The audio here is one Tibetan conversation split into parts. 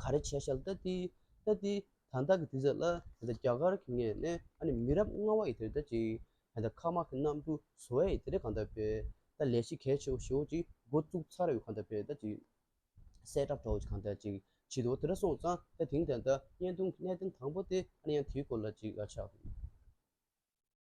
ག་རེ་བྱས་ཤལ་ཏི་ཏི་ཏི་ཏི་ད་ལྟ་གི་དུས་ཚོད་ལ་ད་ལྟ་རྒྱ་གར་གྱི་ངས་ནས་ཨ་ནི་མི་རབས་ལྔ་བ་ཡི་དེ་ད་ཅིག་ད་ལྟ་ཁ་མ་གི་གནམ་གྲུ་བཟོ་བས་ཡི་དེ་རེད་གང་ད་བས་ད་ལས་གཞི་གལ་ཆེ་བོ་ཞེ་བོ་ཅིག་འགོ་བཙུགས་ཚར་ཡོད་གང་ད་བས་ད་ཅིག་གསལ་བསྒྲགས་གྲོགས་ཅིག་གང་ད་ཅིག་བྱེད་དུ་འོ་དེ་ར་སོང་ཙང་ད་དེང་ད་ད་བརྙན་ཐུང་གི་གནད་དོན་དང་པོ་དེ་ཨ་ནི་ཡང་དེའི་སྐོར་ལ་ཅིག་ཆགས་འདུག།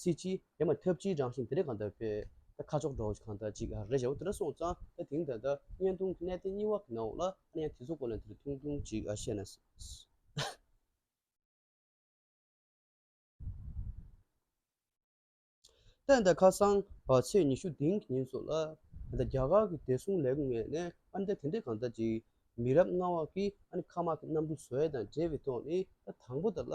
སྲིད་ཅིག། ཡ་མ་ཐབས་ཅིག་རང་བཞིན་དེ་རེ་གང་དག་པས། ད་ཁ་ཕྱོགས་འགྲོ་གང་དག་ཅིག་རེ་བཞག་དེ་ལ་སོང་ཙང་ད་དེང་ད་ད་བརྙན་ཐུང་གི་གནད་དེ་གཉིས་བ་གི་ནང་འོག་ལ་ཨ་ན་ཡང་དེ་ཚོ་སྐོར་ལ་དེ་རུ་ཐུང་ཐུང་ཅིག་བཤད་ན་ད་ཨ་ན་ད་ཁ་སང་བར་ཚེས་ཉི་ཤུ་དེང་གི་ཉིན་སོགས་ལ་ད་རྒྱ་གར་གྱི་བདེ་སྲུང་ལས་ཁུངས་ནས་ཨ་ན་ད་དེ་འདྲས་གང་དག་ཅིག་མི་རབས་ལྔ་བ་གིས་ཨ་ན་ཁ་དམག་གི་གནམ་གྲུ་བཟོ་ཡས་དང་འབྲེལ་བའི་ཐོག་ནས་ད་དང་པོ་ད་ལ་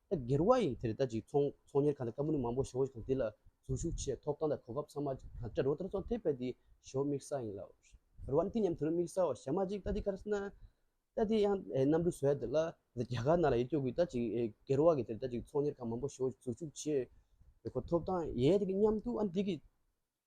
ད་སྒེར་བ་ཡིན་དེར་ད་ཅིག་ཚོང་གཉེར་ཁང་དང་ཀ་མུ་ནི་མང་པོ་ཞོགས་ཤིག་དང་དེ་ལ་ཟུར་ཞུགས་ཆེད་ཐོབ་ཐང་དང་གོ་སྐབས་ཚང་མ་དང་བྲལ་རོ་དེར་ཚོང་ཐེབས་པ་དེ་ཞོ་དམིགས་ས་ཡིན་ལ་རེད་བ་ནི་དེ་མཉམ་དུ་ནི་དམིགས་སའོ་ཞེ་མ་ཅིག་ད་དེ་ག་རེ་ཟེར་ན་ད་དེ་ཡང་གནམ་གྲུ་བཟོས་དེ་ལ་རྒྱ་གར་ནང་ལ་ཡིད་སྐྱོ་གི་ད་ཅིག་སྒེར་བ་གི་དེར་ད་ཅིག་ཚོང་གཉེར་ཁང་མང་པོ་ཞོགས་ཟུར་ཞུགས་ཆེད་གོ་ཐོབ་ཐང་ཡས་དེ་གི་མཉམ་དུ་ཨ་ནི་དེ་གི་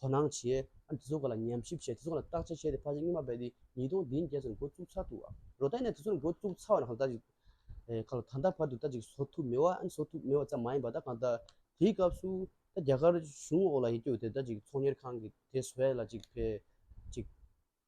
དོ་སྣང་བྱས། དེ་ཚོ་ག་ལ་ཉམས་ཞིབ་བྱས་དེ་ཚོ་ག་ལ་བརྟག་དཔྱད་བྱས་ཏེ་ཕར་ཕྱིན་སྔོན་མ་བས་ཏེ་ཉིས་སྟོང་བདུན་བརྒྱད་ཚོར་འགོ་བཙུགས་ཚར་འདུག་བ། རོ་ད་ནས་དེ་ཚོར་འགོ་བཙུགས་ཚར་བ་ན་གང་ལྟ་ཅིག་ད་ལྟ་བར་དུ་ད་ཅིག་བཟོ་ཐུབ་མེད་བ། བཟོ་ཐུབ་མེད་བ་ཙམ་མ་ཡིན་པར་ད་གང་ལྟ། དེའི་སྐབས་སུ། ད་རྒྱ་གར་གཞུང་འོག་ལ་ཡིན་དུས་དེ་ད་ཅིག་ཚོང་གཉེར་ཁང་གིས་དེ་བཟོས་ལ་ཅིག་བས། ཅིག།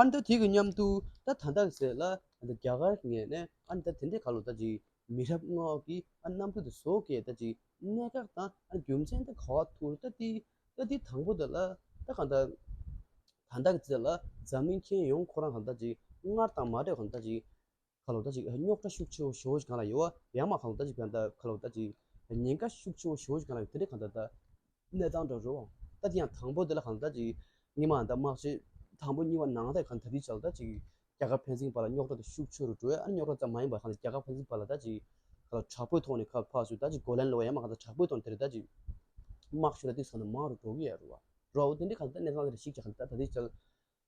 ཨ་མདོ་དེ་གི་མཉམ་དུ་ད་ད་འདག་ཟེར་ལ་རྒྱ་གར་ངས་ནས་ཨ་མདོ་དེ་འདྲའི་ག་ལོ་ད་ཅིག་མི་རབས་ལྔ་འོག་གི་ཨ་རྣམ་ཕུ་དེ་བཟོ་གས་ད་ཅིག་གནད་འགག་དང་ཨ་རྒྱུ་མཚན་ད་ག་བ་ཐུར་ད་ཏི་ད་ཏི་དང་པོ་ད་ལ་ད་ག་འདག་ད་འདག་ཟེར་ལ་འཛམ་གླིང་མཁྱེན་ཡོང་ཁོ་རང་ག་ད་ཅིག་སྔར་དང་མ་འདྲེས་ག་ད་ཅིག་ཁ་ལོ་ད་ཅིག་རྙོག་དྲ་ཤུགས་ཆེ་བོ་ཞོ་ཞིག་གང་ལ་ཡོད་ཨ་ཡང་མ་ཁ་ལོ་ད་ཅིག་ཕན་ད་ཁ་ལོ་ད་ཅིག་ཉེན་ཁ་ཤུགས་ཆེ་བོ་ཞོ་ཞིག་གང་ལ་ཡོད་དེ་འདྲའི་གང་ད་ད། གནས་སྟངས་འདྲ་རོ། ད་དེ་ཡང་དང་པོ་དེ་ལ་གང་ད་ཅིག་གཉིས་མ་ད་དམག་ཆེན་དང་པོ་གཉིས་པ་ནང་ད་གང་ད་དེའི་ཆ་ལ་ད་ཅིག་རྒྱ་གར་ཕན་ཚིག་པ་ལ་རྙོག་དྲ་དེ་ཤུགས་ཆེ་རུ་འགྲོ་ཨ་རྙོག་དྲ་ཙམ་མ་ཡིན་པར་གང་ད་རྒྱ་གར་ཕན་ཚིག་པ་ལ་ད་ཅིག་ཁ་ལོ་དྲག་པོའི་ཐོག་ནས་ཁ་ཕག་ཆུ་ད་ཅིག་གོ་ལན་སློག་ཨ་ཡང་མ་གང་ད་དྲག་པོའི་ཐོག་ནས་དེ་རིང་ད་ཅིག་དམག་ཆུ་ལ་དེ་ཚོ་ནས་མང་རུ་འགྲོ་གི་ཨ་རོ། རོ། དེ་འདྲའི་གང་ད་དེ་འདྲའི་གང་ད་རེ་ཞིག་ཅིག་གང་ད་ད་དེའི་ཆ་ལ།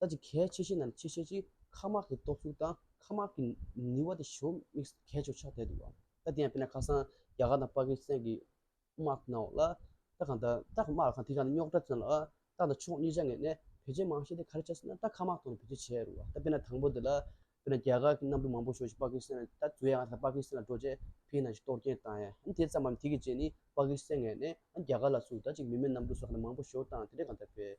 ལྟ་ཅི་གལ་ཆེ་ཤོས་རྣམས་ཆེས་ཆེར་གྱིས་ཁ་དམག་གི་སྟོབས་ཤུགས་དང་ཁ་དམག་གི་ནུས་བ་དེ་ཞོ་དམིགས་སུ་གལ་ཆེ་བ་ཆགས་བསྡད་འདུག་ད་དེ་ཡང་དཔེར་ན་ཁ་སང་རྒྱ་གར་དང་པ་ཀི་སི་ཐན་གྱི་དམག་ནང་འོག་ལ་ད་གང་ལྟར་ད་དམག་ལ་གང་དེ་གང་ནི་རྙོག་དྲ་བཙན་ལགས་ད་ད་ཕྱོགས་གཉིས་ཆ་ངེས་ནས་བེད་སྤྱད་མང་ཤས་དེ་ག་རེ་བྱ་སྲིད་ན་ད་ཁ་དམག་ཐོག་ནས་བེད་སྤྱད་བྱས་རུང་བ་ད་དཔེར་ན་དང་པོ་དེ་ལ་དཔེར་ན་རྒྱ་གར་གྱི་གནམ་གྲུ་མང་པོ་ཞོག་ཅིག་པ་ཀི་སི་ཐན་ལ་ད་དུས་ཡག་ང་ད་པ་ཀི་སི་ཐན་ལ་འགྲོ་རྗེས་ཕིའི་ནང་ཅིག་གཏོར་སྐྱེལ་བཏང་ཡ་ཨ་དེ་ཙམ་མམ་དེ་གི་རྗེས་ནི་པ་ཀི་སི་ཐན་ངེས་ནས་ཨ་རྒྱ་གར་ལ་སུ་ད་ཅིག་མི་མེད་གནམ་གྲུ་སོགས་ནས་མང་པོ་ཞོག་བཏང་དེ་འདྲས་གང་ལྟར་བེད་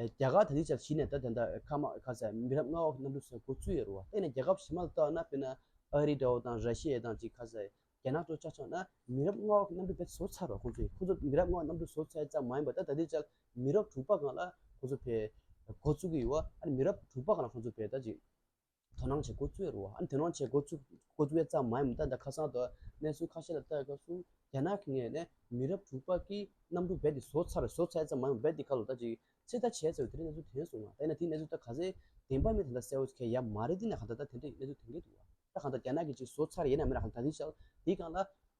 རྒྱ་གར་དང་ནི་ཅག་གཞི་ནས་ད་དེ་འདྲ་ཨེ་ཁ་མ་ཨེ་ཁ་ཟེར་མི་རབས་ལྔ་བ་གི་གནམ་གྲུ་ཟེར་གོ་བཅུ་ཡོད་རུ་བ་བལྟས་ན་རྒྱལ་ཁབ་གཞི་མ་ལ་བལྟ་བ་ན་དཔེར་ན་ཨ་རི་འདྲ་བོ་དང་ར་ཤི་ཡའི་དང་ཅི་ཁ་ཟེར་རྒྱ་ནག་ཅོག་ཅག་ཆགས་ན་མི་རབས་ལྔ་བ་གི་གནམ་གྲུ་བེད་བཟོ་ཚར་བ་ཁོང་ཚོས་ཁོང་ཚོ་མི་རབས་ལྔ་བ་གནམ་གྲུ་བཟོ་ཚད་ཙམ་མ་ཡིན་པ་ད་ད་དེ་ཅག་མི་རབས་དྲུག་པ་གང་ལ་ཁོང་ཚོ་བེད་གོ་བཙུགས་ཀྱི་ཡོད་བ་ཨ་རི་མི་རབས་དྲུག་པ་གང་ལ་ཁོང་ཚོ་བེད་ད་ཅིག། དོ་སྣང་བྱེད་འགོ་བཙུད་རུ་ཨ་དོ་སྣང་བྱེད་འགོ་བཙུད་བས་ཙམ་མ་ཡིན་པར་ད་ལྟ་ཁ་སང་དུ་གནས་ཚུལ་ཁ་ཤས་ལ་ལྟ་སྐབས་སུ་རྒྱ་ནག་གི་ནས་མི་རབས་དྲུག་པ་ཀི་གནམ་གྲུ་རྦད་དེ་བཟོ་ཚར་བཟོ་ཚར་ཙམ་མ་ཡིན་པར་རྦད་དེ་ཁ་ལོ་ད་ཅིག་ཚིག་ལྟ་བྱས་ཟེར་བའི་དེ་འདྲའི་གནས་ཚུལ་དེ་སོང་ང་ད་ཡིན་ན་དེ་གནས་ཚུལ་ད་ག་ཚད་བདེན་པ་མིན་ད་ལྟ་གསལ་བོ་ཁེ་ཡ་མ་རེད་འདི་ནས་ག་ད་ད་དེ་འདྲའི་གནས་ཚུལ་དེ་འདྲའི་འདུག་ད་ག་ད་རྒྱ་ནག་གི་ཅིག་བཟོ་ཚར་ཡས་ན་མེད་ན་ག་ད་དེ་ཞག་འདི་གང་ལ།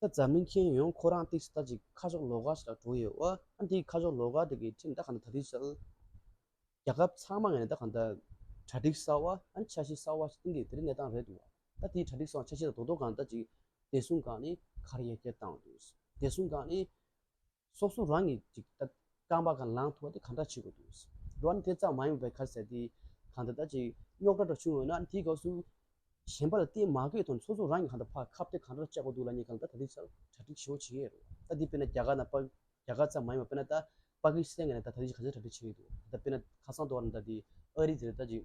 ད་རྫ་མི་མཁྱེན་ཡོང་ཁོ་རང་ཏིག་ཏག་ཅིག་ཁ་ཕྱོགས་ལོག་སྒར་ཞིག་ལ་འགྲོ་ཡོད་ཨོ་ཨ་འདིའི་ཁ་ཕྱོགས་ལོག་སྒར་དེ་གི་ཁྲིམས་བདག་གང་འདྲ་ད་ལྟའི་ཆར་རྒྱ་ཁབ་ཚང་མ་ངས་ནས་ད་གང་འདྲ་གྲ་སྒྲིག་གསར་བ་ཨ་འཆར་གཞི་གསར་བ་ཞིག་བཏིང་གི་དེ་རིང་གནས་སྟངས་རེད་འདུག་ད་དེའི་གྲ་སྒྲིག་གསར་བ་འཆར་གཞི་དང་དོ་དོ་གང་འདྲ་ཅིག་བདེ་སྲུང་སྒང་ནས་གར་ཡལ་གྱི་བཏང་འདུག་བདེ་སྲུང་སྒང་ནས། སོགས་སུ་རང་གིས་ཅིག་ལྟ་རྐང་པ་གང་ལངས་ཐུབ་པ་དེ་གང་འདྲ་བྱེད་དགོས་འདུག་འགྲོ་བ་དེ་ཙམ་མ་ཡོང་བའི་ཁར་ཟེར་ཏེ་གང་ལྟར་ད་ཅིག་རྙོག་དྲ་འདྲ་བྱུང་ཡོང་ན་དེའི་སྐབས་སུ་གཞན་པ་ལ་བལྟས་མ་དགོས་དོན་སོ་སོ་རང་གིས་གང་ལྟར་ཕར་ཁ་བལྟས་གང་འདྲ་བཅའ་དགོས་འདུག་ལ་ཉེ་གང་ལྟར་ད་དུས་སར་གྲ་སྒྲིག་ཞེ་བོ་བྱེད་ཀྱི་ཡོད་རེད་ད་དེ་དཔེར་ན་རྒྱ་གར་ན་པ་རྒྱ་གར་ཙམ་མ་ཡོང་བ་དཔེར་ན་ད་པ་ཀི་སི་ཐན་ནས་ད་ད་དུས་ཀྱི་ག་ཚད་གྲ་སྒྲིག་བྱེད་ཀྱི་འདུག་ད་དཔེར་ན་ཁ་སང་དོ་བ་ན་ད་དེ་ཨ་རི་དེར་ད་ཅིག་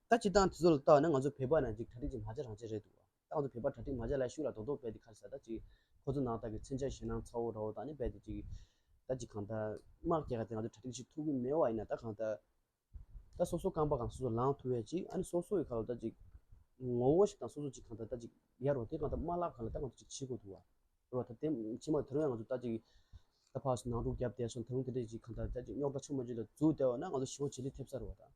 ད་སྤྱིར་བཏང་དེ་ཚོ་ལ་བལྟ་བ་ན་ང་ཚོ་བོད་པ་ནང་བཞིན་གྲ་སྒྲིག་ཅིག་མ་བྱས་རང་བྱས་རེད་འདུག་བ། ད་ང་ཚོ་བོད་པ་གྲ་སྒྲིག་མ་བྱས་ལ་ཤུགས་ལ་རྡོག་རྡོག་རྦད་དེ་ཁ་ཟས་ད་ཅིག་ཁོ་ཚོ་ནང་བདག་གི་མཚོན་ཆ་ཞེད་སྣང་ཚ་བོ་ར་བོ་དག་ནི་རྦད་དེ་ཅིག་ད་ཅིག་གང་ལྟར། དམག་རྒྱལ་ཁ་དེ་ང་ཚོ་གྲ་སྒྲིག་ཅིག་ཐུབ་ཀི་མེད་བ་ཡིན་ན་ད་གང་ལྟར། ད་སོ་སོ་རྐང་པ་གང་སོ་སོ་ལངས་ཐུབ་བས་ཅིག་ཨ་ནི་སོ་སོ་ཡི་ཁ་ལོ་ད་ཅིག་ངོ་བོ་ཞིག་དང་སོ་སོ་ཅིག་གང་ལྟར་ད་ཅིག་ཡར་རོ་དེ་གང་ལྟར་དམག་ལག་ཁང་ལ་ད་ང་ཚོ་ཅིག་ཕྱིར་དགོས་འདུག་བ། རེད་བ་ད་དེ་ཕྱིར་མ་དེ་རིང་ཡང་ང་ཚོ་ད་ཅིག་ད་ཕག་སོང་ནང་དཀྲུག་བརྒྱབ་བསྡད་སོང་ད་རུང་དེ་འདྲས་ཅིག་གང་ལྟར་ད་ཅིག་རྙོག་དྲ་ཆུང་མ་ཅིག་ལ་འཛུལ་བསྡད་བ་ན་ང་ཚོ་ཞི་བ་ཇི་ལི་ཐེབས་ས་རེད་བ་ད།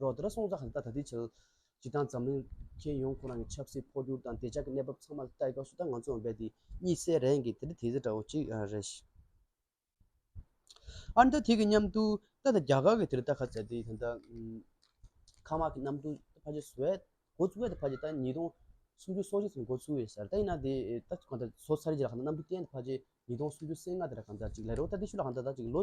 རོགས་ཟླར་སོང་ཙང་ཧ་ལྟ་ད་ལྟའི་ཆར། སྤྱི་བཏང་འཛམ་གླིང་ཁྱོན་ཡོངས་ཁོ་རང་གི་ཆབ་སྲིད་འཕོ་འགྱུར་དང་བདེ་འཇགས་ཀྱི་གནས་བབ་ཚང་མ་ལ་ལྟ་སྐབས་སུ་ད་ང་ཚོ་འོན་པའི་དེ་གཉིས་སའི་རེས་འགའི་དེ་འདྲ་དེ་འདྲ་འདྲ་བོ་གཅིག་རེད། ཨ་ན་ད་དེ་གི་མཉམ་དུ་ད་ད་རྒྱ་གར་གྱི་དེ་རུ་ད་ཁ་ཚ་དེ་ད། ཁ་མ་གི་གནམ་གྲུ་ཕ་ཇེ་སུ་ཨད་འགོ་ཚུགས་ཨད་ཕ་ཇེ་ད་ཉིས་སྟོང་སུམ་ཅུ་སོ་གཅིག་ཚུན་འགོ་ཚུགས་ཨེ་སར་ད་ཡིན་ན་དེ་ད་གང་ད་ཟོ་ཚར་རྗེས་ལ་གང་ད་གནམ་གྲུ་གཏན་ད་ཕ་ཇེ་ཉིས་སྟོང་སུམ་ཅུ་སེ་ལྔ་དེ་ར་གང་ད་ཅིག་ལས་རོགས་ད་དེ་ཤུ་ལ་གང་ད་ད་ཅིག་ལོ།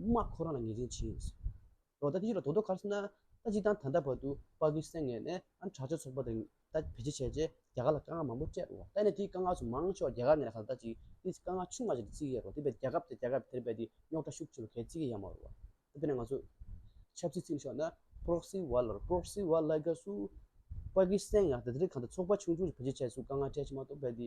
དམག་ཁོ་རང་ལ་ངེས་ཅན་བྱེད། ལོ་ཟླ་དེ་བཞི་ལ་དོ་དོ་ཁར་སྣ་ལྟ་ཅི་དང་ད་ལྟ་བར་དུ་དཔའ་བོའི་སེང་ངེ་ནས་ཨ་གྲགས་ཆོས་ཚོགས་པ་དང་ལྟ་བེད་སྤྱད་བྱས་རྗེས་རྒྱ་གར་ལ་དཀའ་ངལ་མང་པོ་སྤྲད་འོ་ལྟ་ནས་དེའི་དཀའ་ངལ་སུ་མང་ཤོག་རྒྱ་གར་ནས་ལ་ཁ་ལྟ་ཅིག་དེས་དཀའ་ངལ་ཆུང་མ་བྱས་ཏེ་བརྩིས་ཡས་རོ་དེ་བས་རྒྱ་ཁབ་དེ་རྒྱ་ཁབ་དེར་བས་དེ་རྙོག་དྲ་ཤུགས་ཆེ་བས་གས་བརྩིས་ཀས་ཡ་མ་རོ་བ་དཔེར་ན་ང་ཚོ་ཆབ་སྲིད་བརྩིས་ཤོག་ན Proxy War ལར Proxy War ལ་དགའ་སུ་དཔའ་བོའི་སེང་ངེ་ལ་དེ་དེར་གང་དུ་ཚོགས་པ་ཆུང་ཆུང་ཞིག་བེད་སྤྱད་བྱས་སུ་དཀའ་ངལ་སྤྲད་ཕྱིན་མ་གཏོགས་བས་དེ